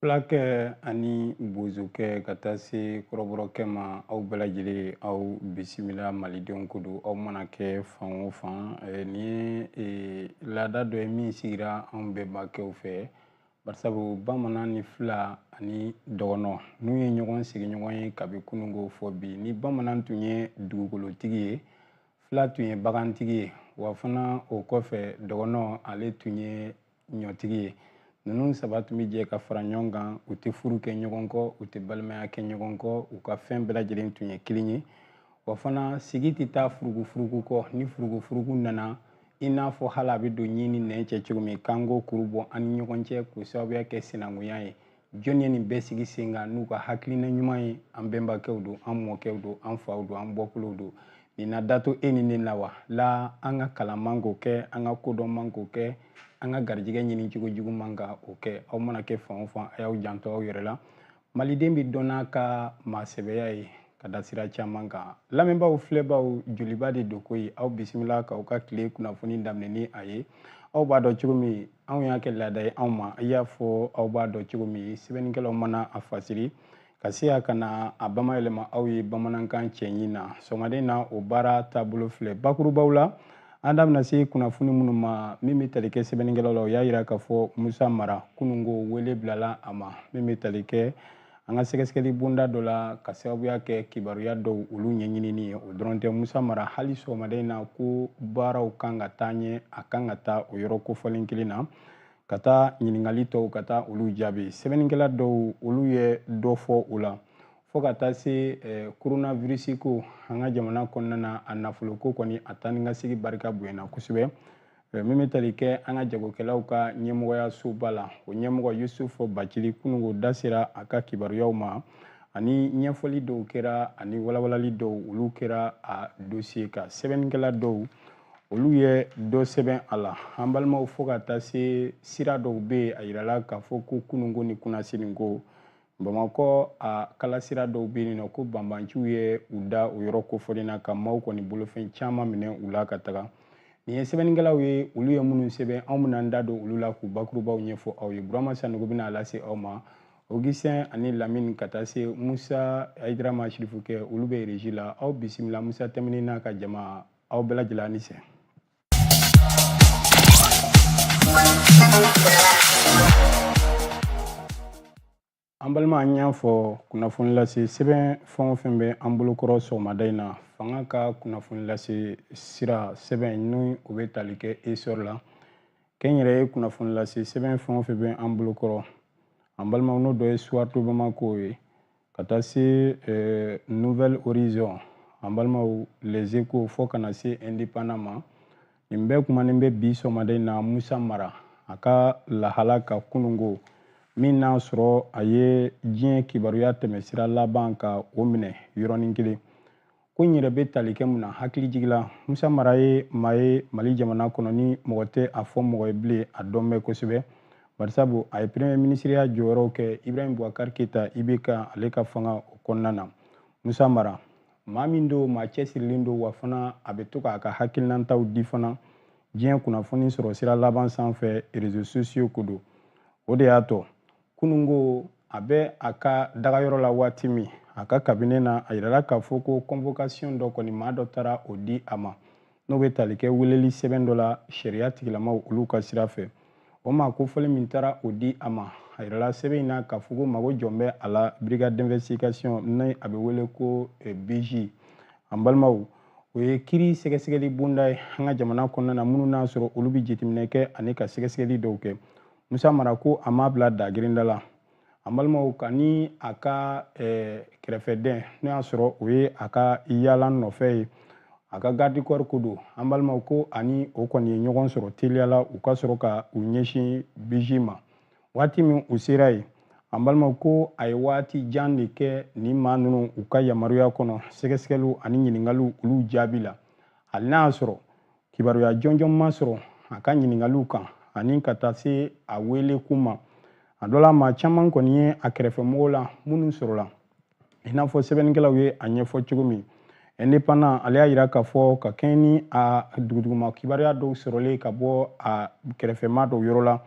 Fulakɛ ani bozokɛ ka taa se kɔrɔbɔrɔkɛ ma aw bɛɛ lajɛlen aw bisimila malidenw ko don aw mana kɛ fan o fan nin ye laada dɔ ye min sigira anw bɛnbakɛw fɛ barisabu bamanan ni fila ani dɔgɔnɔ ninnu ye ɲɔgɔn sigiɲɔgɔn ye kabi kununko fɔ bi ni bamanan tun ye dugukolotigi ye fila tun ye bagantigi ye wa fana o kɔfɛ dɔgɔnɔ ale tun ye ɲɔtigi ye ninnu saba tun bɛ jɛ ka fara ɲɔgɔn kan u tɛ furu kɛ ɲɔgɔn kɔ u tɛ balimaya kɛ ɲɔgɔn kɔ u ka fɛn bɛɛ lajɛlen tun ye kelen ye wa fana sigi tɛ taa furugufurugu kɔ ni furugufurugu nana i n'a fɔ hali a bɛ don ɲin ni nɛn cɛ cogo min k'an k'o kuru bɔ an ni ɲɔgɔn cɛ k'o sababuya kɛ sinankunya ye jɔn ye nin bɛɛ sigi sen kan n'u ka hakilina ɲuman ye an bɛnbakɛw don an mɔkɛw don an faw don an bɔkolow don nin na dato e ni ne la wa la an ka kalan man k'o kɛ an ka kodɔn man k'o kɛ an ka garijɛgɛ ɲini cogo jugu man ka o kɛ aw mana kɛ fan o fan a y'aw janto aw yɛrɛ la maliden bɛ dɔn n'a ka maasɛbɛya ye ka da sira caman kan lamɛnbaaw filɛbaaw joliba de don ko ye aw bisimila k'aw ka tile kunnafoni daminɛ ni a ye aw b'a dɔn cogo min anw y'a kɛ laada ye anw ma i n'a fɔ aw b'a dɔn cogo min sɛbɛnnikɛlaw mana a fasiri ka se a ka na an b'a mayɛlɛma aw ye bamanankan cɛɲi na sɔgɔmaden na o baara taabolo filɛ bakurubaw la an da bɛna se kunnafoni minnu ma min bɛ tali kɛ sɛbɛnnikɛlaw la o y'a jira k'a fɔ musa mara kununko wele bilala a ma min bɛ tali kɛ an ka sɛgɛsɛgɛli bonda dɔ la ka sababuya kɛ kibaruya dɔw olu ɲɛɲinini ye o dɔrɔn tɛ musa mara hali sɔgɔmaden na ko baaraw kan ka taa ɲɛ a kan ka taa o yɔrɔ kofɔlen kelen na ka taa ɲininkali tɔw ka taa olu jaabi sɛbɛnnikɛla dɔw olu ye dɔ fɔ o la fɔɔ ka taa se eh, koronavirisi ko an ka jamana kɔnɔna na a nafoloko kɔni a taanikasegi barika bonyana kosɛbɛ min bɛ tali kɛ an ka jagokɛlaw ka ɲɛmɔgɔyasoba la o ɲɛmɔgɔ yusufu bacili kununko da sera a ka kibaruyaw ma ani ɲɛfɔli dɔw kɛra ani walawalali dɔw olu kɛra a dosiye kan sɛbɛnnikɛla dɔw olu ye dɔ sɛbɛn a la an balimaw fo ka taa se sira dɔw bɛ yen a yirala k'a fɔ ko kununko ni kunasiniko bamakɔ a kalasira dɔw bɛ yen nɔ ko banbanciw ye u da o yɔrɔ kofɔlen na ka maaw kɔni bolofɛn caman minɛ u la ka taga nin ye sɛbɛnnikɛlaw ye olu ye minnu sɛbɛn anw bɛna an da don olu la k'u bakurubaw ɲɛfɔ aw ye burama sanogo bɛna a lase aw ma ogisɛn ani lamini ka taa se musa ayidara ma sirifukɛ olu bɛ reji la aw bisimila musa tɛmɛni n'a ka jama aw bɛɛ lajɛlen ni ce an balima an y'a fɔ kunnafoni lase sɛbɛn fɛn o fɛn bɛ an bolokɔrɔ sɔgɔmada in na fanga ka kunnafoni lase sira sɛbɛn ni o bɛ tali kɛ essor la kɛnyɛrɛye kunnafoni lase sɛbɛn fɛn o fɛn bɛ an bolokɔrɔ an balimaw n'o dɔ ye soir de bamako ye ka taa se eh, nouvel horizon an balimaw les échos fo ka na se indépendant ma nin bɛɛ kumanen bɛ bi sɔgɔmada in na musa mara a ka lahala ka kunungo min n'a sɔrɔ a ye diɲɛ kibaruya tɛmɛsira laban ka o minɛ yɔrɔnin kelen ko in yɛrɛ bɛ tali kɛ mun na hakili jigila musa mara ye maa ye mali jamana kɔnɔ ni mɔgɔ tɛ a fɔ mɔgɔ ye bilen a dɔn bɛ kosɛbɛ barisabu a ye premier minisiriya jɔyɔrɔw kɛ ibrahim boubacar keita ibk ale ka fanga o kɔnɔna na musa mara maa min don maa cɛsirilen don wa fana a bɛ to k'a ka hakilinantaw di fana diɲɛ kunnafoni sɔrɔ sira laban sanfɛ réseaux sociaux ko don o de y'a to kunungo a bɛ a ka dagayɔrɔ la waati min a ka cabinet na a yirala k'a fɔ ko convocation dɔ kɔni maa dɔ taara o di a ma n'o bɛ tali kɛ weleli sɛbɛn dɔ la sariya tigilamaw olu ka sira fɛ o maa kofɔlen min taara o di a ma a yirala sɛbɛn in na k'a fɔ ko mago jɔ bɛ a la brigade d'investigation ni a bɛ wele ko eh, bij an balimaw o ye kiri sɛgɛsɛgɛli bonda ye an ka jamana kɔnɔna na minnu n'a sɔrɔ olu bɛ jateminɛ kɛ ani ka sɛgɛsɛgɛli dɔw kɛ musa mara ko a m'a bila dagirinda la an balimaw k'a ni a ka eh, kɛrɛfɛden n'o y'a sɔrɔ o ye a ka yaala nɔfɛ ye a ka garde corps ko don an balimaw ko a ni o kɔni ye ɲɔgɔn sɔrɔ teliya la u ka sɔrɔ ka u ɲɛsin bij ma waati min u sera yen an balimaw ko a ye waati jan de kɛ nin maa ninnu u ka yamaruya kɔnɔ sɛgɛsɛgɛliw ani ɲininkaliw olu jaabi la hali n'a y'a sɔrɔ kibaruya jɔnjɔn ma sɔrɔ a ka ɲiningaliw kan ani ka taa se a wele kun ma a dɔ la maa caman kɔni ye a kɛrɛfɛmɔgɔw la minnu sɔrɔla i n'a fɔ sɛbɛnnikɛlaw ye a ɲɛfɔ cogo min indépendant ale y'a yira k'a fɔ ka kɛɲɛ ni a duguduguma kibaruya dɔw sɔrɔlen ka bɔ a kɛrɛfɛmaa dɔw yɔrɔ la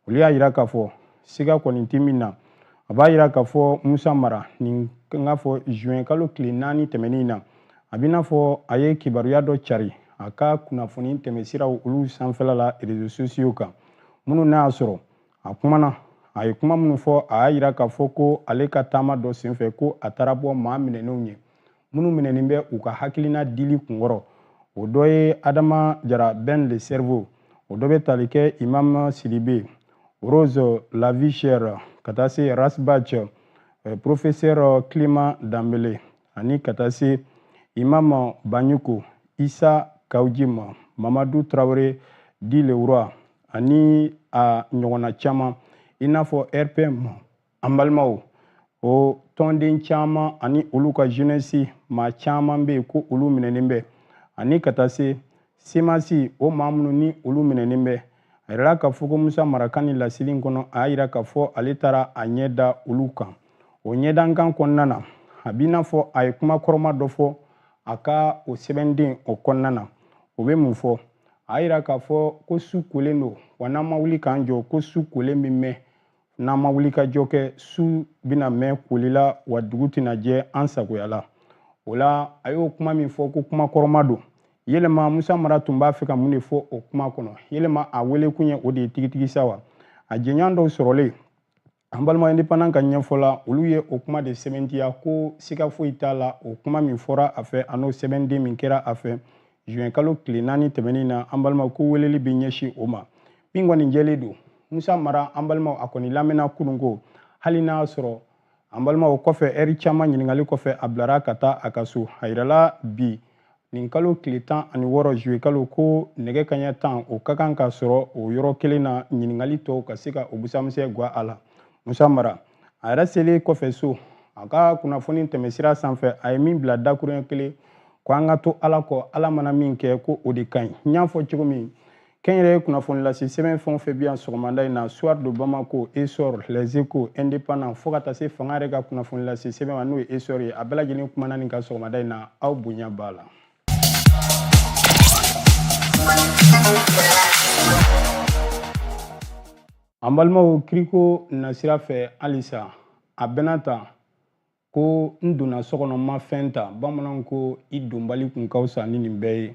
olu y'a yira k'a fɔ siga kɔni tɛ min na a b'a yira k'a fɔ musa mara nin n k'a fɔ juin kalo tile naani tɛmɛnen na a b'i n'a fɔ a ye kibaruya dɔ cari a ka kunnafoni tɛmɛsiraw olu sanfɛla la réseaux sociaux kan minnu n'a y'a sɔrɔ a kumana a ye kuma minnu fɔ a y'a yira k'a fɔ ko ale ka taama dɔ senfɛ ko a taara bɔ maa minɛnenw ye minnu minɛnen bɛ u ka hakilina dili kunkɔrɔ o dɔ ye adama jara ben le cerveau o dɔ bɛ tali kɛ imam sidibe rose la vie chère ka taa se ras bath eh, professeur clément danbele ani ka taa se imam banjugu isa kaujim mamadu traore dit le roi ani a ɲɔgɔnna caman i n'a fɔ rpm an balimaw o tɔnden caman ani olu ka jeunesse maa caman bɛ yen ko olu minɛnen bɛ ani ka taa se semasi o maa minnu ni olu minɛnen bɛ a yirala k'a fɔ ko musa mara ka nin laseli in kɔnɔ a y'a yira k'a fɔ ale taara a ɲɛ da olu kan o ɲɛdankan kɔnɔna na a b'i n'a fɔ a ye kuma kɔrɔma dɔ fɔ a ka o sɛbɛnden o kɔnɔna na o bɛ mun fɔ a y'a yira k'a fɔ ko su kolen don wa n'an ma wuli k'an jɔ ko su kolen bɛ mɛn n'an ma wuli ka jɔ kɛ su bɛna mɛn koli la wa dugu tɛna jɛ an sagoya la o la a y'o kuma min fɔ ko kuma kɔrɔma don yɛlɛma musa mara tun b'a fɛ ka mun de fɔ o kuma kɔnɔ yɛlɛma a wele kun ye o de ye tigitigi sa wa a jɛɲɔgɔn dɔw sɔrɔlen an balima indépendant ka ɲɛfɔ la olu ye o kuma de sɛbɛntiya ko siga foyi t'a la o kuma min fɔra a fɛ an'o sɛbɛnden min kɛra a fɛ juin kalo tile naani tɛmɛnin na an balimaw ko weleli bɛ ɲɛsin o ma min kɔni jɛlen don musa mara an balimaw a kɔni lamɛnna kunun ko hali n'a sɔrɔ an balimaw kɔfɛ ɛri caman ɲininkali kɔfɛ a bilara ka taa a ka so a yirala bi nin kalo tile tan ani wɔɔrɔ juillet kalo ko nɛgɛ kaɲɛ tan o ka kan ka sɔrɔ o yɔrɔ kelen na ɲininkali tɔw ka se ka o busan misɛn gwan a la musa mara a yɛrɛ selen kɔfɛ so a ka kunnafoni tɛmɛsira sanfɛ a ye min bila dakuruɲɛ kelen ko an ka to ala kɔ ala mana min kɛ ko o de ka ɲi n y'a fɔ cogo min kɛnyɛrɛye kunnafonilase sɛbɛn fɛn o fɛn bɛ yan sɔgɔmada in na soir de bamako essor les échos indépendant fo ka taa se fanga yɛrɛ ka kunnafonilase sɛbɛn ma n'o ye essor ye a bɛɛ lajɛlen kumana nin ka sɔgɔmada in na aw bonya b'a la an balimaw kiriko nasira fɛ halisa a bɛna ta ko n donna so kɔnɔ n ma fɛn ta bamananw ko i donbali kun ka fisa ni nin bɛɛ ye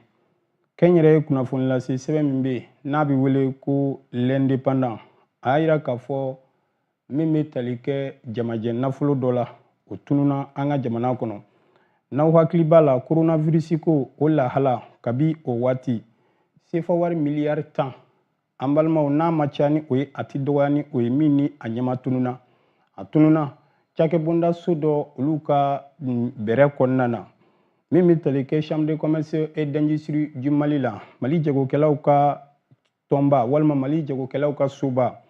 kɛnyɛrɛye kunnafonilase sɛbɛn min bɛ yen n'a bɛ wele ko l'indépendant a y'a yira k'a fɔ min bɛ tali kɛ jamajɛ nafolo dɔ la o tununa an ka jamana kɔnɔ n'aw hakili b'a la koronavirisi ko o lahala kabi o waati sefawari miliyari tan an balimaw n'a ma caya ni o ye a ti dɔgɔya ni o ye min ni a ɲɛma tununa a tununa cakɛbonda so dɔ olu ka bɛrɛ kɔnɔna na min bɛ tali kɛ chambre de commerce et d'industrie du mali la mali jagokɛlaw ka tɔnba walima mali jagokɛlaw ka soba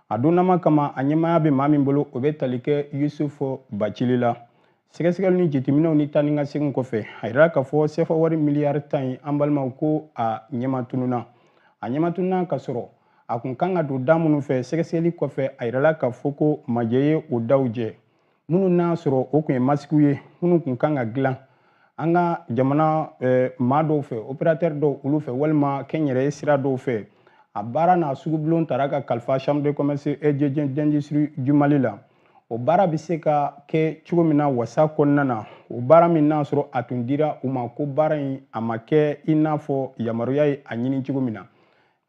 a donnama kama a ɲɛmaaya bɛ maa min bolo o bɛ tali kɛ yusufu bacili la Sɛgɛsɛgɛli ni jateminɛw ni taa ni ka segin kɔfɛ a yira k'a fɔ sefa wari miliyari tan ye an balimaw ko a ɲɛma tununna a ɲɛma tununna ka sɔrɔ a kun kan ka don da minnu fɛ sɛgɛsɛgɛli kɔfɛ a yirala k'a fɔ ko majɛ ye o daw jɛ minnu n'a sɔrɔ o tun ye masikiw ye minnu kun kan ka dilan an ka jamana eh, maa dɔw fɛ opérateur dɔw olu fɛ walima kɛnyɛrɛye sira dɔw fɛ a baara n'a sugubulon tara ka kalifa chambre de commerce et d'industrie du mali la o baara bɛ se ka kɛ cogo min na wasa kɔnɔna na o baara min n'a sɔrɔ a tun dira u ma ko baara in a ma kɛ i n'a fɔ yamaruya ye a ɲini cogo min na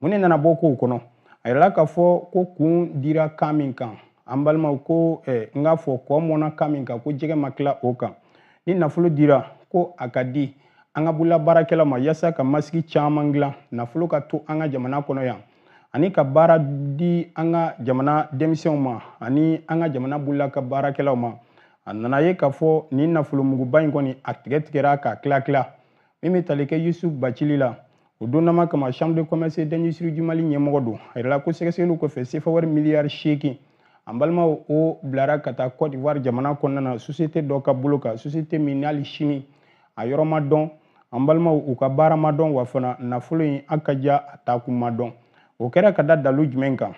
mun de nana bɔ kow kɔnɔ a yirala k'a fɔ ko kun dira kan min kan an balimaw ko eh, n k'a fɔ kɔ mɔnna kan min kan ko jɛgɛ ma tila o kan ni nafolo dira ko a ka di an ka bolola baarakɛlaw ma yasa ka masiki caman dilan nafolo ka to an ka jamana kɔnɔ yan ani ka baara di an ka jamana denmisɛnw ma ani an ka jamana bolola ka baarakɛlaw ma a nana ye k'a fɔ nin nafolomuguba in kɔni a tigɛ tigɛra ka tila tila min bɛ tali kɛ yusuf bacili la o donnama kama chambre de commerce d'industrie du mali ɲɛmɔgɔ don a yirala ko sɛgɛsɛgɛliw kɔfɛ sefa wari miliyari seegin an balimaw o bilara ka taa côte d'ivoire jamana kɔnɔna na société dɔ ka bolo kan société min n'ali sini a yɔrɔ ma dɔn an balimaw u ka baara ma dɔn wa fana nafolo in a ka ja a taakun ma dɔn o kɛra ka da dalu jumɛn kan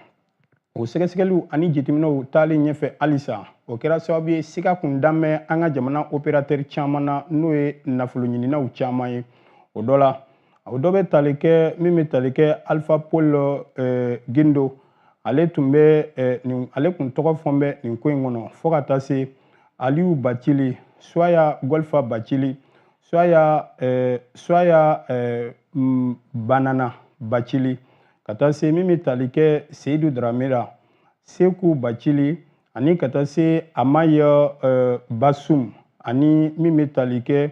o sɛgɛsɛgɛliw ani jateminɛw taalen ɲɛfɛ halisa o kɛra sababu ye siga kun dan bɛ an ka jamana opérateur caman na n'o ye nafoloɲininaw caman ye o dɔ la o dɔ bɛ tali kɛ min bɛ tali kɛ alpha paul eh, gindo ale tun bɛ eh, nin ale tun tɔgɔ fɔn bɛ nin ko in kɔnɔ fo ka taa se aliyu bacili soya golfa bacili soya eh, soya eh, mm, banana bacili ka taa se min bɛ tali kɛ seyidu daramera seku bacili ani ka taa se amaya eh, basum ani min bɛ tali kɛ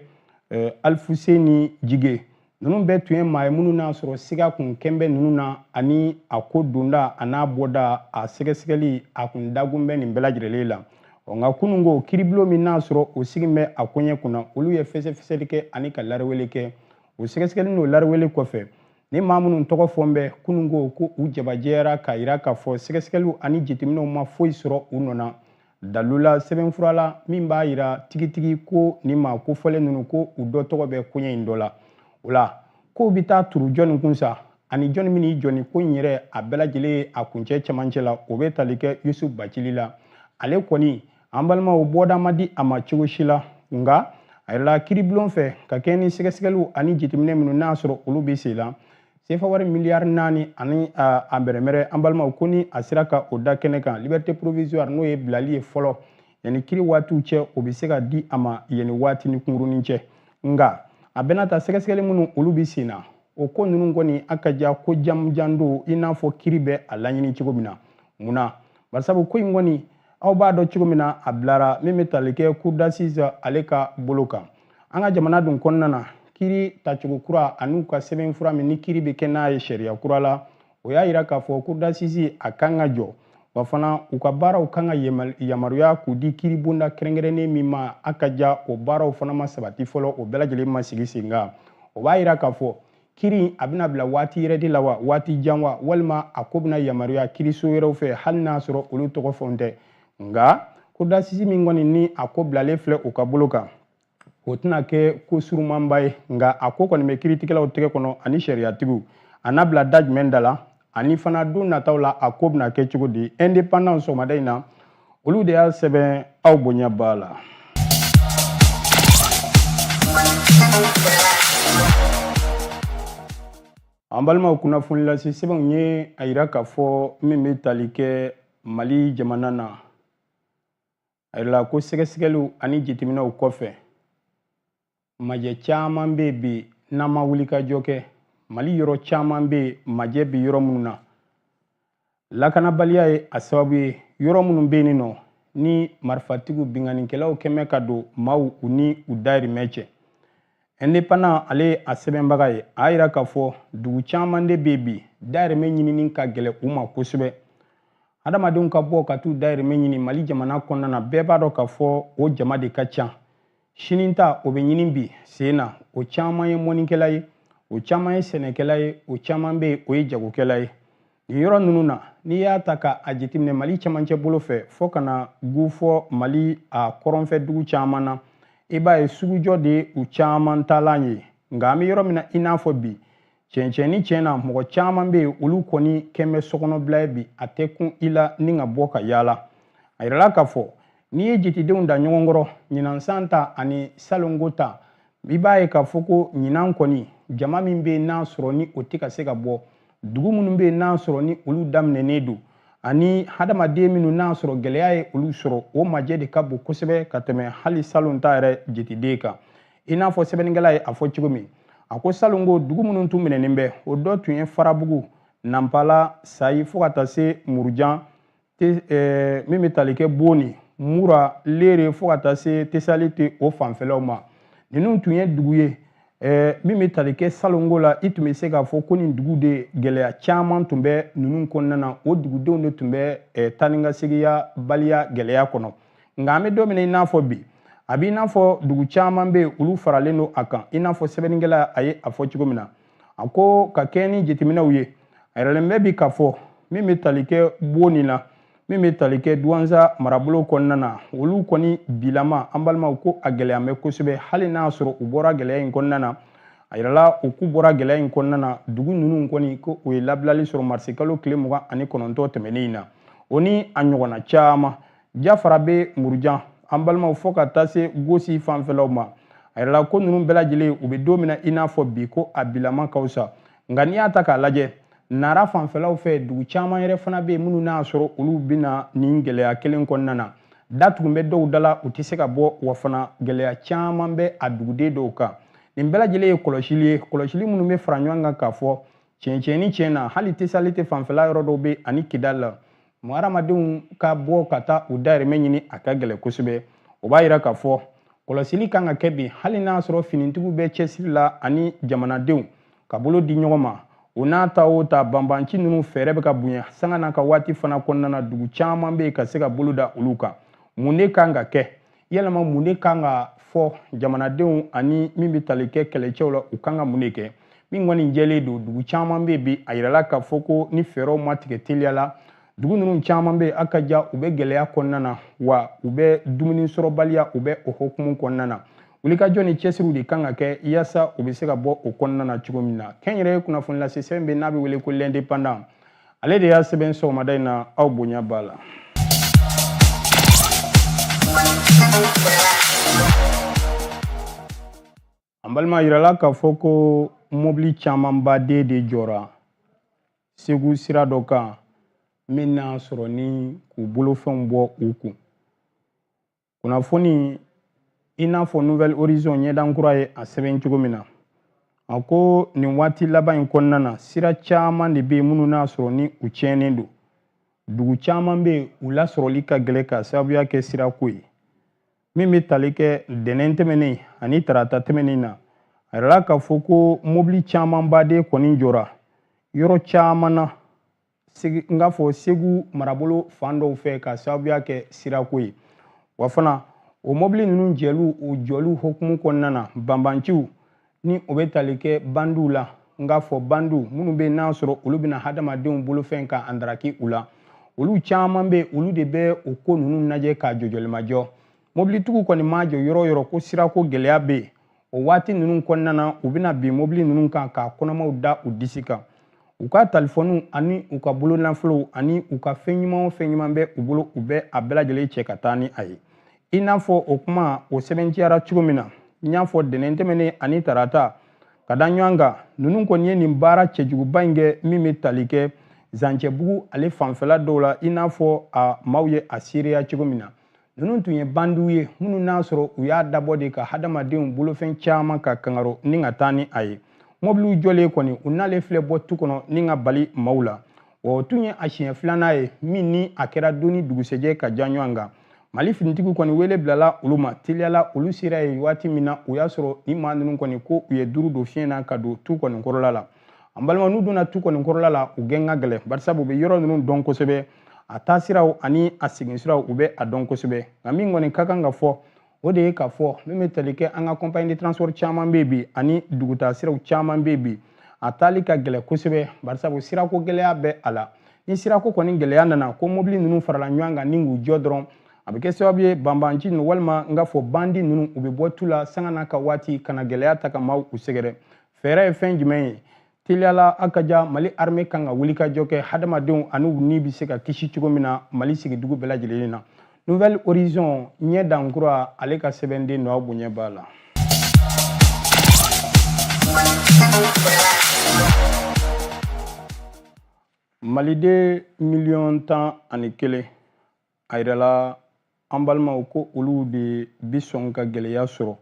eh, alifuseni jige ninnu bɛɛ tun ye maa ye minnu n'a sɔrɔ siga kun kɛn bɛ ninnu na ani a ko donda an'a bɔda a sɛgɛsɛgɛli a kun dagun bɛ nin bɛɛ lajɛlen la ɔ nka kunun ko kiribulon min n'a sɔrɔ o sigin bɛ a koɲɛ kunna olu ye fɛsɛfɛsɛli kɛ ani ka lariwele kɛ o sɛgɛsɛgɛli n'o lariwele kɔfɛ ni maa minnu tɔgɔ fɔn bɛ kunun ko ko u jabajɛyara k'a yira k'a fɔ sɛgɛsɛgɛliw ani jateminɛw ma foyi sɔrɔ u nɔ na dalu la sɛbɛnfura la min b'a yira tigitigi ko nin maa kofɔlen ninnu ko u dɔ tɔgɔ bɛ koɲɛ in dɔ la o la k'o bɛ taa turu jɔnni kun sa ani jɔnni min y'i jɔ nin ko in yɛrɛ a bɛɛ lajɛlen ye a kuncɛ cɛmancɛ la o bɛ tali kɛ yusuf bacili la ale kɔni an balimaw bɔda ma di a ma cogo si la nka a yirala kiribulon fɛ ka kɛɲɛ ni sɛgɛsɛgɛliw ani jateminɛ minnu n'a sɔrɔ olu bɛ sen la sefa wari miliyari naani ani a bɛrɛmɛrɛ an balimaw ko ni a sera ka o da kɛnɛ kan liberté provisoire n'o ye bilali ye fɔlɔ yanni kiri waatiw cɛ o bɛ se ka di a ma yanni waati ni kunkurunin cɛ nka a bɛna ta sɛgɛsɛgɛli minnu olu bɛ sen na o ko ninnu kɔni a ka ja ko jamujan don i n'a fɔ kiri bɛ a laɲini cogo min na mun na barisabu ko in kɔni aw b'a dɔn cogo min na a bilara min bɛ tali kɛ cour d'assises ale ka bolo kan an ka jamana dun kɔnɔna na kiri tacogo kura an'u ka sɛbɛnfura min ni kiri bɛ kɛ n'a ye sariya kura la o y'a yira k'a fɔ cour d'assises a kan ka jɔ wa fana u ka baaraw kan ka yamaruya k'u di kiri bonda kɛrɛnkɛrɛnnen min ma a ka ja o baaraw fana ma sabati fɔlɔ o bɛɛ lajɛlen ma sigi sen kan o b'a yira k'a fɔ kiri a bɛna bila waati yɛrɛ de la wa waati jan wa walima a ko bɛna yamaruya kiriso wɛrɛw fɛ hali n'a sɔrɔ olu tɔgɔ fɛnw tɛ nka cour d'assises min kɔni ni a ko bilalen filɛ u ka bolo kan o tɛna kɛ ko surumanba ye nka a ko kɔni bɛ kiritigɛlaw tɛgɛ kɔnɔ ani sariyatigiw a n'a bila da jumɛn da la ani fana don nataw la a ko bɛna kɛ cogo di indépendant sɔgɔmada in na olu de y'a sɛbɛn aw bonya b'a la an balimaw kunnafoni lase sɛbɛnw ye a yira k'a fɔ min bɛ tali kɛ mali jamana na A yirala ko sɛgɛsɛgɛliw ani jateminɛw kɔfɛ majɛ caman bɛ bi n'an ma wulikajɔ kɛ mali yɔrɔ caman bɛ majɛ bɛ yɔrɔ minnu na lakanabaliya ye a sababu ye yɔrɔ minnu bɛ yen nɔ ni marifatigiw binkannikɛlaw kɛmɛ ka don maaw u ni u dayirimɛ cɛ indépendant ale ye a sɛbɛnbaga ye a y'a yira k'a fɔ dugu caman de bɛ bi dayirimɛ ɲinini ka gɛlɛn u ma kosɛbɛ Adamadenw ka bɔ ka t'u dayirimɛ ɲini Mali jamana kɔnɔna na bɛɛ b'a dɔn k'a fɔ o jama de ka ca. Sini ta o bɛ ɲini bi sen na o caman ye mɔnikɛla ye o caman ye sɛnɛkɛla ye o caman bɛ o ye jagokɛla ye. Nin yɔrɔ ninnu na n'i y'a ta ka a jateminɛ Mali camancɛ bolo fɛ fo ka na gu fɔ Mali a kɔrɔnfɛ dugu caman na i b'a ye sugujɔ de ye u caman taalan ye nka an bɛ yɔrɔ min na i n'a fɔ bi cɛncɛn ni cɛn na mɔgɔ caman bɛ yen olu kɔni kɛn bɛ sokɔnɔbila ye bi a tɛ kun i la ni ka bɔ ka yaala a yirala k'a fɔ n'i ye jetidenw da ɲɔgɔn kɔrɔ ɲinan san ta ani salonko ta i b'a ye k'a fɔ ko ɲinan kɔni jama min bɛ yen n'a sɔrɔ ni o tɛ ka se ka bɔ dugu minnu bɛ yen n'a sɔrɔ ni olu daminɛnen don ani hadamaden minnu n'a sɔrɔ gɛlɛya ye olu sɔrɔ o majɛ de ka bon kosɛbɛ ka tɛmɛ hali salon ta yɛrɛ jetiden kan i n'a fɔ sɛbɛnnikɛla ye a fɔ cogo min a ko salon ko dugu minnu tun minɛnen bɛ o dɔ tun ye farabugu nanpala sayi fo ka taa se murujan eh, min bɛ tali kɛ boni mura leere fo ka taa se tesaliti o fanfɛlaw ma ninnu tun ye dugu ye eh, min bɛ tali kɛ salonko la i tun bɛ se k'a fɔ ko nin dugu de gɛlɛya caman tun bɛ ninnu kɔnɔna na o dugudenw de tun bɛ eh, taanikasegiyabaliya gɛlɛya kɔnɔ nka an bɛ don min na i n'a fɔ bi a b'i n'a fɔ dugu caman bɛ yen olu faralen don a kan i n'a fɔ sɛbɛnnikɛla a ye a fɔ cogo min na a ko ka kɛɲɛ ni jateminɛw ye a yiralen bɛ bi k'a fɔ min bɛ tali kɛ boni na min bɛ tali kɛ duwanza marabolo kɔnɔna na olu kɔni bilama an balimaw ko a gɛlɛya bɛ kosɛbɛ hali n'a y'a sɔrɔ u bɔra gɛlɛya in kɔnɔna na a yirala u k'u bɔra gɛlɛya in kɔnɔna na dugu ninnu kɔni ko u ye labilali sɔrɔ marisikalo tile mugan ani kɔnɔntɔn tɛmɛnen in na o ni a ɲɔgɔnna caman jafarabɛ murujan an balimaw fɔ ka taa se gosi fanfɛlaw ma a yirala ko ninnu bɛɛ lajɛlen u bɛ don min na i n'a fɔ bi ko a bilama ka fisa nka n'i y'a ta k'a lajɛ nara fanfɛlaw fɛ dugu caman yɛrɛ fana bɛ yen minnu n'a sɔrɔ olu bɛna nin gɛlɛya kelen kɔnɔna na da tugun bɛ dɔw da la u tɛ se ka bɔ wa fana gɛlɛya caman bɛ a duguden dɔw kan nin bɛɛ lajɛlen ye kɔlɔsili ye kɔlɔsili minnu bɛ fara ɲɔgɔn kan k'a fɔ tiɲɛ ni tiɲɛ na hali tesaliti fanfɛla yɔrɔ dɔw bɛ ani kidali la mɔgɔ hadamadenw ka bɔ ka taa u dayirimɛ ɲini a ka gɛlɛn kosɛbɛ o b'a yira k'a fɔ kɔlɔsili kan ka kɛ bi hali n'a sɔrɔ finitigiw bɛ cɛsiri la ani jamanadenw ka bolo di ɲɔgɔn ma o n'a ta o ta banbanci ninnu fɛɛrɛ bɛ ka bonya sanga n'a ka waati fana kɔnɔna na dugu caman bɛ yen ka se ka bolo da olu kan mun de kan ka kɛ yalama mun de kan ka fɔ jamanadenw ani min bɛ tali kɛ kɛlɛcɛw la u kan ka mun de kɛ min kɔni jɛlen don dugu caman bɛ bi a yirala k'a fɔ ko ni fɛɛrɛw ma tigɛ teliya la dugu ninnu caman bɛ a ka ja u bɛ gɛlɛya kɔnɔna na wa u bɛ dumuni sɔrɔbaliya u bɛ o hokumu kɔnɔna na wulikajɔ ni cɛsiriw de kan ka kɛ yaasa u bɛ se ka bɔ o kɔnɔna na cogo min na kɛnyɛrɛye kunnafonilasesɛbɛn bɛ n'a bɛ wele ko l'indépendant ale de y'a sɛbɛn sɔgɔmada in na aw bonya b'a la an balima a yirala k'a fɔ ko mɔbili camanba de de jɔra segu sira dɔ kan min n'a sɔrɔ ni k'u bolofɛnw bɔ u kun kunnafoni i n'a fɔ nouvel horizon ɲɛdan kura ye a sɛbɛn cogo min na a ko nin waati laban in kɔnɔna na sira caman de bɛ yen minnu n'a sɔrɔ ni u tiɲɛnen don dugu caman bɛ yen u lasɔrɔli ka gɛlɛn ka sababuya kɛ sirako ye min bɛ tali kɛ ntɛnɛn tɛmɛnen ani tarata tɛmɛnen na a yirala k'a fɔ ko mobili camanba de kɔni jɔra yɔrɔ caman na n k'a fɔ segu marabolo fan dɔw fɛ ka sababuya kɛ sirako ye wa fana o mɔbili ninnu jɛliw o jɔliw hokumu kɔnɔna na banbanciw ni o bɛ tali kɛ bandiw la n k'a fɔ bandiw minnu bɛ n'a sɔrɔ olu bɛna hadamadenw bolofɛn ka andaraki u la olu caman bɛ olu de bɛ o ko ninnu na jɛ ka jɔ jɔli ma jɔ mɔbilitigiw kɔni ma jɔ yɔrɔ o yɔrɔ ko sirako gɛlɛya bɛ yen o waati ninnu kɔnɔna na u bɛna bin mobili ninnu kan k'a kɔnɔmaw da u disi kan u ka talifɔniw ani u ka bolonafolow ani u ka fɛn ɲuman o fɛn ɲuman bɛ u bolo u bɛ a bɛɛ lajɛlen cɛ ka taa ni a ye i n'a fɔ o kuma o sɛbɛntiyara cogo min na n y'a fɔ ntɛnɛn tɛmɛnen ani tarata ka da ɲɔgɔn kan ninnu kɔni ye nin baara cɛjuguba in kɛ min bɛ tali kɛ zancɛbugu ale fanfɛla dɔw la i n'a fɔ a maaw ye a seereya cogo min na ninnu tun ye bandiw ye minnu n'a sɔrɔ u y'a dabɔ de ka hadamadenw bolofɛn caman ka kangaro ni ka taa ni a ye mobiliw jɔlen kɔni u nalen filɛ bɔ tu kɔnɔ ni ka bali maaw la wa o tun ye a siɲɛ filanan ye min ni a kɛra don ni dugusɛjɛ ka ja ɲɔgɔn kan mali finitigiw kɔni wele bilala olu ma teliya la olu sera yen waati min na u y'a sɔrɔ ni maa ninnu kɔni ko u ye duuru don fiɲɛ na ka don tu kɔni kɔrɔla la an balima n'u donna tu kɔni kɔrɔla la u gɛn ka gɛlɛn barisabu u bɛ yɔrɔ ninnu dɔn kosɛbɛ a taa siraw ani a segin siraw u bɛ a dɔn kosɛbɛ nka min kɔni ka kan ka fɔ o de ye k'a fɔ min bɛ tali kɛ an ka compagnie de transport caman bɛ bi ani dugutaa siraw caman bɛ bi a taali ka gɛlɛn kosɛbɛ barisabu sirako gɛlɛya bɛ a la ni sirako kɔni gɛlɛya nana ko mobili ninnu farala ɲɔgɔn kan ni k'u jɔ dɔrɔn a bɛ kɛ sababu ye banbanci ninnu walima n k'a fɔ bandi ninnu u bɛ bɔ tu la sanga n'a ka waati ka na gɛlɛya ta ka maaw u sɛgɛrɛ fɛɛrɛ ye fɛn jumɛn ye teliya la a ka ja mali arme kan ka wulikajɔ kɛ hadamadenw ani u ni bɛ se ka kisi cogo min na mali sigidugu bɛɛ lajɛlen na nouvel horizon ɲɛdan kura ale ka sɛbɛnden nɔ bonya b'a la maliden miliyɔn tan ani kelen a yirala an balimaw ko olu de bi sɔn ka gɛlɛya sɔrɔ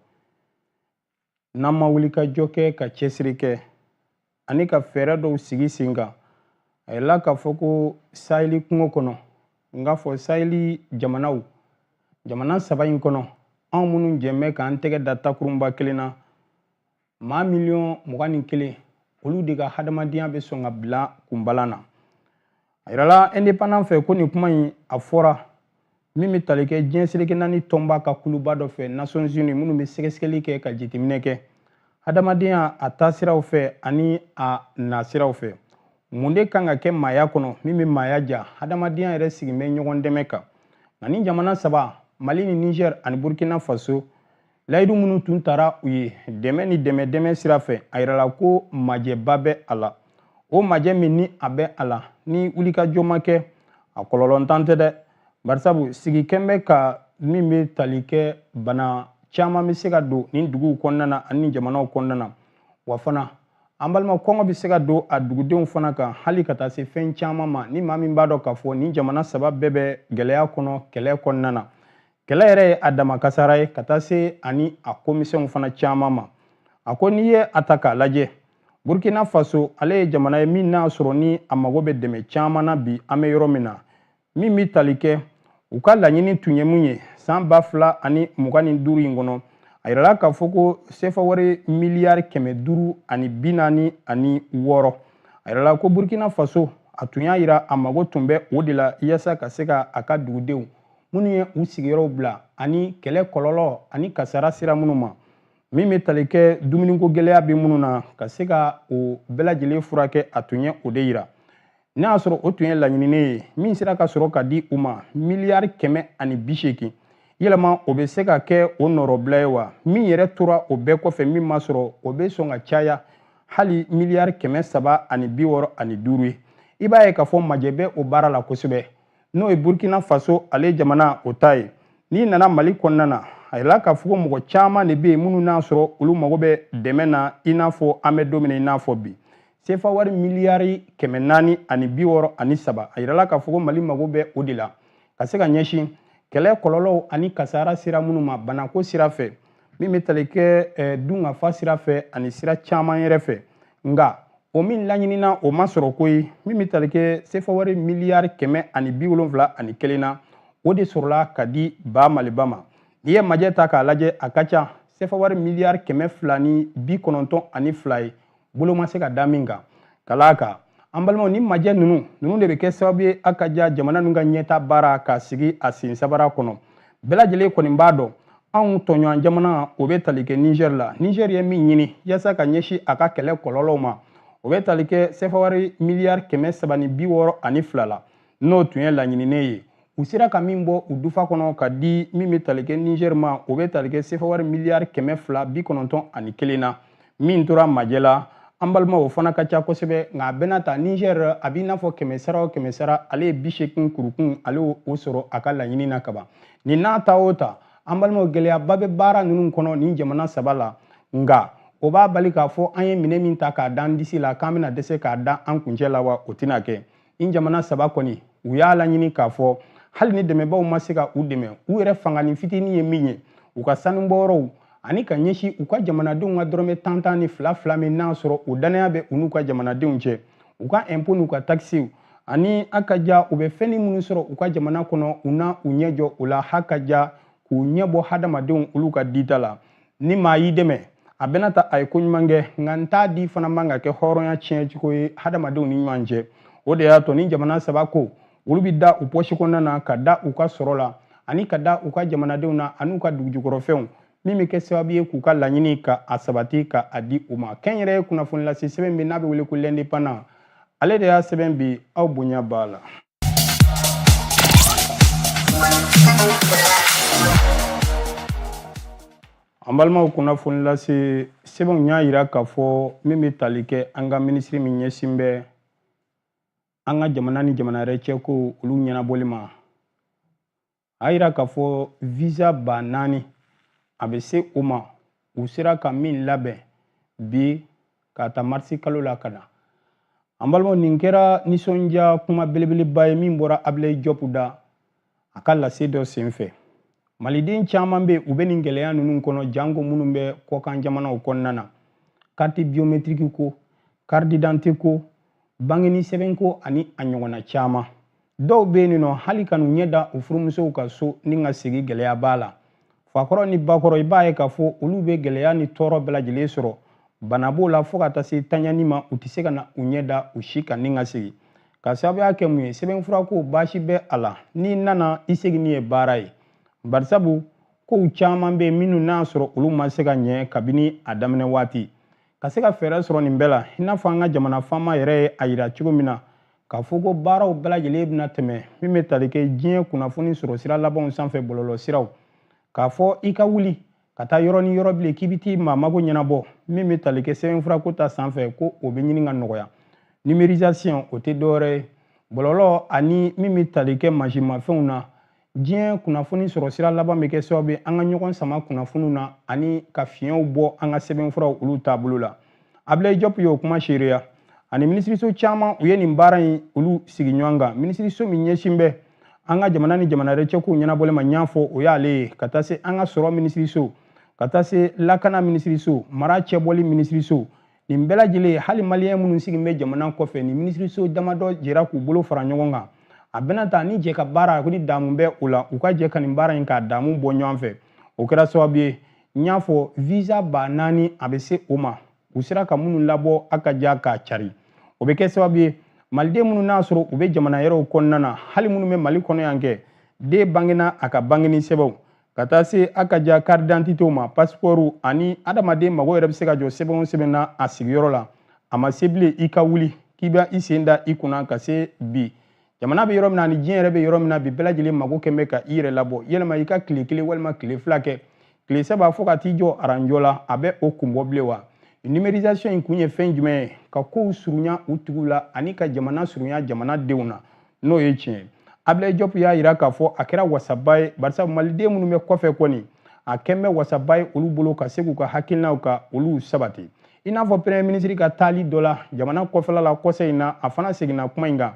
n'an ma wulikajɔ kɛ ka cɛsiri kɛ ani ka fɛɛrɛ dɔw sigi sen kan a yirala k'a fɔ ko saheli kungo kɔnɔ n k'a fɔ saheli jamanaw jamana saba in kɔnɔ anw minnu jɛn bɛ k'an tɛgɛ da takurunba kelen na maa miliyɔn mugan ni kelen olu de ka hadamadenya bɛ sɔn ka bila kunbalan na a yirala indépendant fɛ ko nin kuma in a fɔra min bɛ tali kɛ diɲɛ seleke naani tɔnba ka kuluba dɔ fɛ nations unies minnu bɛ sɛgɛsɛgɛli kɛ ka jateminɛ kɛ hadamadenya a taasiraw fɛ ani a nasiraw fɛ mun de kan ka kɛ maaya kɔnɔ min bɛ maaya ja hadamadenya yɛrɛ sigin bɛ ɲɔgɔn dɛmɛ kan nka nin jamana saba mali ni niger ani burkina faso layidu minnu tun tara u ye dɛmɛ ni dɛmɛ dɛmɛ sira fɛ a yirala ko majɛba bɛ a la o majɛ min ni a bɛ a la ni wulikajɔ ma kɛ a kɔlɔlɔntan tɛ dɛ barisabu sigi kɛn bɛ ka min bɛ tali kɛ bana caman bɛ se ka don nin duguw kɔnɔna na ani jamanaw kɔnɔna na wa fana an balima kɔngɔ bɛ se ka don a dugudenw fana kan hali ka taa se fɛn caman ma ni maa min b'a dɔn k'a fɔ nin jamana saba bɛɛ bɛ gɛlɛya kɔnɔ kɛlɛ kɔnɔna na kɛlɛ yɛrɛ ye a dama kasara ye ka taa se ani a komisɛnw fana caman ma a ko n'i ye a ta k'a lajɛ burkina faso ale ye jamana ye min n'a sɔrɔ ni a mago bɛ dɛmɛ caman na bi an bɛ yɔrɔ min na min bɛ tali kɛ u ka laɲini tun ye mun ye san ba fila ani mugan ni duuru in kɔnɔ a yirala k'a fɔ ko sefa wari miliyari kɛmɛ duuru ani bi naani ani wɔɔrɔ a yirala ko burkina faso a tun y'a yira a mago tun bɛ o de la yasa ka se ka a ka dugudenw minnu ye u sigiyɔrɔw bila ani kɛlɛ kɔlɔlɔ ani kasara sera minnu ma min bɛ tali kɛ dumuniko gɛlɛya bɛ minnu na ka se ka o bɛɛ lajɛlen furakɛ a tun ye o de yira n'a y'a sɔrɔ o tun ye laɲininen ye min sera ka sɔrɔ ka di u ma miliyari kɛmɛ ani bi seegin yɛlɛma o bɛ se ka kɛ o nɔrɔbila ye wa min yɛrɛ tora o bɛɛ kɔfɛ min ma sɔrɔ o bɛ sɔn ka caya hali miliyari kɛmɛ saba ani bi wɔɔrɔ ani duuru ye i b'a ye k'a fɔ majɛ bɛ o baara la kosɛbɛ n'o ye burkina faso ale jamana o ta ye n'i nana mali kɔnɔna na a yirala k'a fɔ ko mɔgɔ caman de bɛ yen minnu n'a sɔrɔ olu mago bɛ dɛmɛ na i n'a fɔ an bɛ don min na i n'a fɔ bi sefa wari miliyari kɛmɛ naani ani bi wɔɔrɔ ani saba a yirala k'a fɔ ko mali mago bɛ o de la ka se ka ɲɛsin kɛlɛ kɔlɔlɔw ani kasara sera minnu ma banako sira fɛ min bɛ tali kɛ eh, dunkafa sira fɛ ani sira caman yɛrɛ fɛ nka o min laɲinina o ma sɔrɔ koyi min bɛ tali kɛ sefawari miliyari kɛmɛ ani bi wolonwula ani kelen na o de sɔrɔla ka di ba maliba ma n'i ye majɛ ta k'a lajɛ a ka ca sefawari miliyari kɛmɛ fila ni bi kɔnɔntɔn ani fila ye bolo ma se ka da min kan ka d'a kan an balimaw ni majɛ ninnu ninnu de bɛ kɛ sababu ye a ka ja jamana ninnu ka ɲɛtaa baara ka sigi a sen sabara kɔnɔ bɛɛ lajɛlen kɔni b'a dɔn anw tɔɲɔgɔn jamana o bɛ tali kɛ niger la niger ye min ɲini yasa ka ɲɛsin a ka kɛlɛ kɔlɔlɔw ma o bɛ tali kɛ sefawari miliyari kɛmɛ saba ni bi wɔɔrɔ ani fila la n'o tun ye laɲininen ye u sera ka min bɔ u dufa kɔnɔ ka di min bɛ tali kɛ niger ma o bɛ tali kɛ sefawari miliyari kɛmɛ fila bi kɔnɔntɔn ani kelen na min tora majɛ la an balima o fana ka ca kosɛbɛ nka a bɛɛ n'a ta niger a b'i n'a fɔ kɛmɛ sara o kɛmɛ sara ale ye bi seegin kurukun ale o sɔrɔ a ka laɲini na kaban nin n'a ta o ta an balimaw gɛlɛyaba bɛ baara ninnu kɔnɔ nin jamana saba la nka o b'a bali k'a fɔ an ye minɛn min ta k'a da an disi la k'an bɛna dɛsɛ k'a da an kuncɛ la wa o tɛna kɛ in jamana saba kɔni u y'a laɲini k'a fɔ hali ni dɛmɛbaw ma se ka u dɛmɛ u yɛrɛ fangani fitini ye min ye u ka sanubɔyɔrɔw ani ka ɲɛsin u ka jamanadenw ka dɔrɔmɛ tan tan ni fila fila min n'a sɔrɔ o dannaya bɛ u n'u ka jamanadenw cɛ u ka ɛnpo n'u ka takisiw ani a ka ja u bɛ fɛnnin minnu sɔrɔ u ka jamana kɔnɔ u na u ɲɛ jɔ o la ha ka ja k'u ɲɛ bɔ hadamadenw olu ka dita la ni maa y'i dɛmɛ a bɛna ta a ye ko ɲuman kɛ nka n t'a di fana man ka kɛ hɔrɔnya tiɲɛ cogo ye hadamadenw ni ɲɔgɔn cɛ o de y'a to nin jamana saba ko olu bɛ da u pɔsi kɔnɔna na ka da u ka sɔrɔ la ani ka da u ka jamanadenw na an'u ka dugujukɔrɔfɛnw min bɛ kɛ sababu ye k'u ka laɲini ka a sabati ka a di u ma kɛnyɛrɛye kunnafoni lase sɛbɛn bɛ n'a bɛ wele ko l'indépendant ale de y'a sɛbɛn bi aw bonya b'a la an balimaw kunnafoni lase sɛbɛnw y'a jira k'a fɔ min bɛ tali kɛ an ka minisiri min ɲɛsin bɛ an ka jamana ni jamana wɛrɛ cɛko olu ɲɛnabɔli ma a yira k'a fɔ visa ba naani a bɛ se o ma u sera ka min labɛn bi k'a ta marisi kalo la ka na an balimaw nin kɛra nisɔndiya kuma belebeleba ye min bɔra abilayi jɔpu da a ka lase dɔ senfɛ maliden caman bɛ u bɛ nin gɛlɛya ninnu kɔnɔ janko minnu bɛ kɔkan jamanaw kɔnɔna na carte biométrique ko carte d'identité ko bangeni sɛbɛnko ani a ɲɔgɔnna caman dɔw bɛ yen nɔ hali ka n'u ɲɛ da u furumusow kan so ni ka segin gɛlɛya b'a la fakɔrɔ ni bakɔrɔ i b'a ye k'a fɔ olu bɛ gɛlɛya ni tɔɔrɔ bɛɛ lajɛlen sɔrɔ bana b'o la fo ka taa se tanyani ma u tɛ se ka na u ɲɛ da u si kan ni ka segin ka sababuya kɛ mun ye sɛbɛnfura ko baasi bɛ a la n'i nana i seginni ye baara ye barisabu kow caman bɛ yen minnu n'a sɔrɔ olu ma se ka ɲɛ kabini a daminɛ waati ka se ka fɛɛrɛ sɔrɔ nin bɛɛ la i n'a fɔ an ka jamana faama yɛrɛ ye a yira cogo min na k'a fɔ ko baaraw bɛɛ lajɛlen bɛna tɛmɛ min bɛ tali kɛ diɲɛ kunnafoni sɔrɔ sira labanw sanfɛ bɔlɔlɔ siraw k'a fɔ i ka wuli ka taa yɔrɔ ni yɔrɔ bilen k'i bɛ t'i maa mago ɲɛnabɔ min bɛ tali kɛ sɛbɛnfurako ta sanfɛ ko o bɛ ɲini ka nɔgɔya numérisation o tɛ dɔwɛrɛ ye bɔlɔlɔ ani min bɛ tali kɛ mansinmafɛnw na diɲɛ kunnafoni sɔrɔ sira laban bɛ kɛ sababu ye an ka ɲɔgɔn sama kunnafoniw na ani ka fiɲɛw bɔ an ka sɛbɛnfuraw olu taabolo la abilayi jɔp y'o kuma seereya ani minisiriso caman u ye nin baara in olu sigi ɲɔgɔn kan minisiriso min ɲɛsin bɛ an ka jamana ni jamana wɛrɛ cɛkow ɲɛnabɔli ma n y'a fɔ o y'ale ye ka taa se an ka sɔrɔ minisiriso ka taa se lakana minisiriso mara cɛbɔli minisiriso nin bɛɛ lajɛlen hali maliyɛn minnu sigilen bɛ jamana kɔfɛ ni minisiriso damadɔ jɛra k'u bolo fara ɲɔgɔn kan a bɛna ta ni jɛ ka baara ni daamu bɛ o la u ka jɛ ka nin baara in k'a daamu bɔ ɲɔgɔn fɛ o kɛra sababu ye n y'a fɔ visa ba naani a bɛ se o ma u sera ka minnu labɔ a ka ja k'a cari o bɛ kɛ sababu ye maliden minnu n'a sɔrɔ u bɛ jamana wɛrɛw kɔnɔna na hali minnu bɛ mali kɔnɔ yan kɛ den bangena a ka bangeni sɛbɛnw ka taa se a ka ja karidantitew ma pasipɔriw ani adamaden mago yɛrɛ bɛ se ka jɔ sɛbɛn o sɛbɛn na a sigiyɔrɔ la a ma se bilen i ka wuli k'i bɛ i sen da i kunna ka se bi jamana bɛ yɔrɔ min na ani diɲɛ yɛrɛ bɛ yɔrɔ min na bi bɛɛ lajɛlen mago kɛn bɛ ka i yɛrɛ labɔ yɛlɛma i ka tile kelen walima tile fila kɛ tile saba fo ka t'i jɔ aranjɔ la a bɛ o kun bɔ bilen wa numérisation in kun ye fɛn jumɛn ye ka kow surunya u tigiw la ani ka jamana surunya jamana denw na n'o ye tiɲɛ ye abilayi jɔpu y'a yira k'a fɔ a kɛra wasaba ye barisa maliden minnu bɛ kɔfɛ kɔni a kɛn bɛ wasaba ye olu bolo ka se k'u ka hakilinaw ka olu sabati i n'a fɔ premier minisiri ka taali dɔ la jamana kɔfɛla la kɔsa in na a fana seginna kuma in kan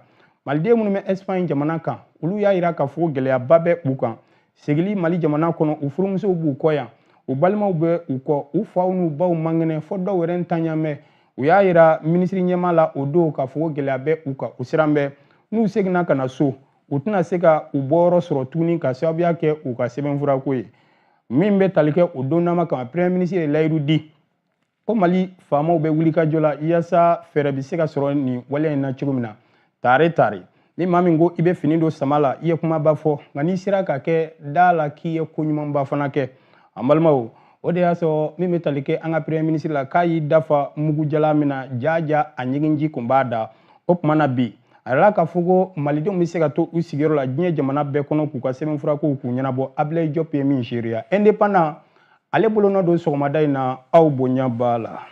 maliden minnu bɛ espagne jamana kan olu y'a yira k'a fɔ gɛlɛyaba bɛ u kan segili mali jamana kɔnɔ u furumusow b'u kɔ yan u balimaw bɛ u kɔ u faw n'u baw man kɛnɛ fo dɔw yɛrɛ ntanya mɛn u y'a yira minisiri ɲɛmaa la o don k'a fɔ ko gɛlɛya bɛ u kan u siran bɛ n'u seginna ka na so u tɛna se ka u bɔyɔrɔ sɔrɔ tuguni ka sababuya kɛ u ka sɛbɛnfurako ye min bɛ tali kɛ o donnama kama premier minisiri ye layidu di ko mali faamaw bɛ wulikajɔ la yaasa fɛɛrɛ bɛ se ka sɔrɔ nin waleya in na cogo min na tare tare ni maa min ko i bɛ fini don sama la i ye kumaba fɔ nka n'i sera k'a kɛ da la k'i ye ko ɲumanba fana kɛ an balimaw o de y'a sɔrɔ min bɛ tali kɛ an ka premier minisiri la k'a y'i da fa mugu jalan min na jaaja a ɲiginji kun b'a da o tuma na bi a yirala k'a fɔ ko malidenw bɛ se ka to u sigiyɔrɔ la diɲɛ jamana bɛɛ kɔnɔ k'u ka sɛbɛnfurakow k'u ɲɛnabɔ abilayi jɔp ye min seereya indépendant ale bolonɔ don sɔgɔmada in na aw bonya b'a la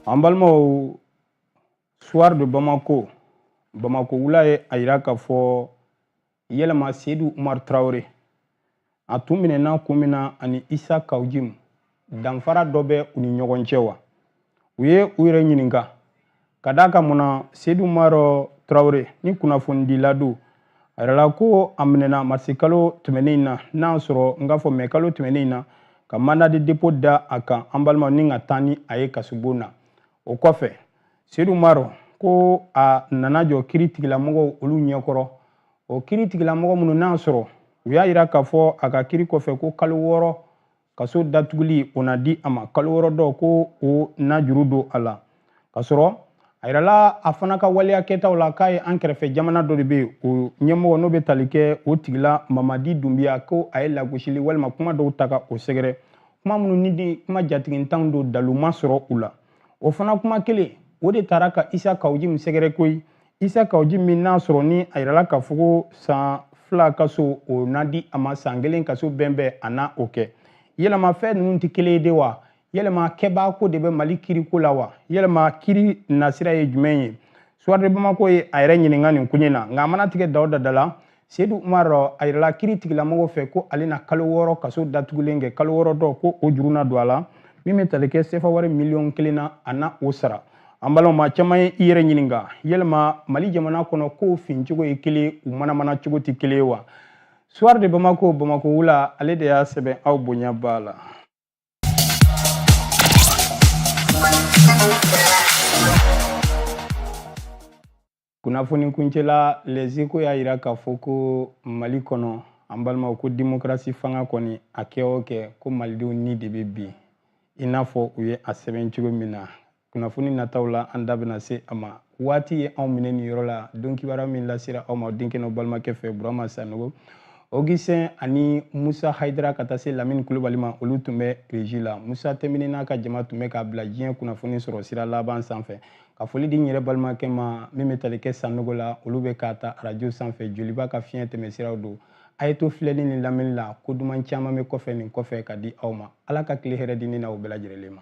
an balimaw soir de bamako bamako wula ye a yira k'a fɔ yɛlɛma seyidu umar tarawele a tun minɛna kun min na ani isa kawjimu danfara dɔ bɛ u ni ɲɔgɔn cɛ wa u ye u yɛrɛ ɲininka ka d'a kan mun na seyidu umar tarawele ni kunnafonidila don a yirala ko a minɛna marisi kalo tɛmɛnen in na n'a sɔrɔ n k'a fɔ mɛ kalo tɛmɛnen in na ka mandat de dépôt da a kan an balimaw ni ka taa ni a ye kasobon na o kɔfɛ seyidu umar ko a nana jɔ kiri tigilamɔgɔw olu ɲɛkɔrɔ o kiri tigilamɔgɔ minnu n'a sɔrɔ u y'a yira k'a fɔ a ka kiri kɔfɛ ko kalo wɔɔrɔ kaso datuguli o na di a ma kalo wɔɔrɔ dɔ ko o na juru don a la ka sɔrɔ a yirala a fana ka waleya kɛtaw la k'a ye an kɛrɛfɛ jamana dɔ de bɛ yen o ɲɛmɔgɔ n'o bɛ tali kɛ o tigila mamadi dunbiya ko a ye lagosili walima kuma dɔw ta ka o sɛgɛrɛ kuma minnu ni di kuma jatigintanw don dalu ma sɔrɔ u la o fana kuma kelen o de taara ka isa kawu jim sɛgɛrɛ koyi isa kawu jim n'a sɔrɔ ni a yirala k'a fɔ ko san fila kaso o na di a ma san kelen kaso bɛn bɛn a na o kɛ yɛlɛma fɛn ninnu tɛ kelen ye de wa yɛlɛma kɛbaa ko de bɛ mali kiriko la wa yɛlɛma kiri nasira ye jumɛn ye suwari de bamako ye a yɛrɛ ɲininka nin koɲɛ na nka a mana tigɛ da o da la seyidu umar a yirala kiri tigilamɔgɔw fɛ ko ale na kalo wɔɔrɔ kaso datugulen kɛ kalo wɔɔrɔ dɔ ko o juru na don a la min bɛ tali kɛ sefa wari miliyɔn kelen na a na o sara an balimaw maa caman ye i yɛrɛ ɲininka yɛlɛma mali jamana kɔnɔ kow fin cogo ye kelen u manamana cogo tɛ kelen ye wa suwari de bamako bamako wula ale de y'a sɛbɛn aw bonya b'a la Kunnafoni kuncɛla lɛzeko y'a yira k'a fɔ ko mali kɔnɔ an balimaw ko demokarasi fanga kɔni a kɛ o kɛ ko malidenw ni de bɛ bin i n'a fɔ u ye a sɛbɛn cogo min na kunnafoni nataw la an da bɛna se a ma waati ye anw minɛ nin yɔrɔ la don kibaruya min lasera aw ma denkɛ n'aw balimakɛ fɛ burama sanogo ogisitɛn ani musa hayidara ka taa se lamini kulubali ma olu tun bɛ regi la musa tɛmini n'a ka jama tun bɛ k'a bila diɲɛ kunnafoni sɔrɔ sira laban sanfɛ ka foli di n yɛrɛ balimakɛ ma min bɛ tali kɛ sanogo la olu bɛ k'a ta arajo sanfɛ joliba ka fiɲɛ tɛmɛsiraw don a ye to filɛli ni lamɛnni la ko duman caman bɛ kɔfɛ nin kɔfɛ ka di aw ma ala ka tile hɛrɛ di ne n'aw bɛɛ lajɛlen ma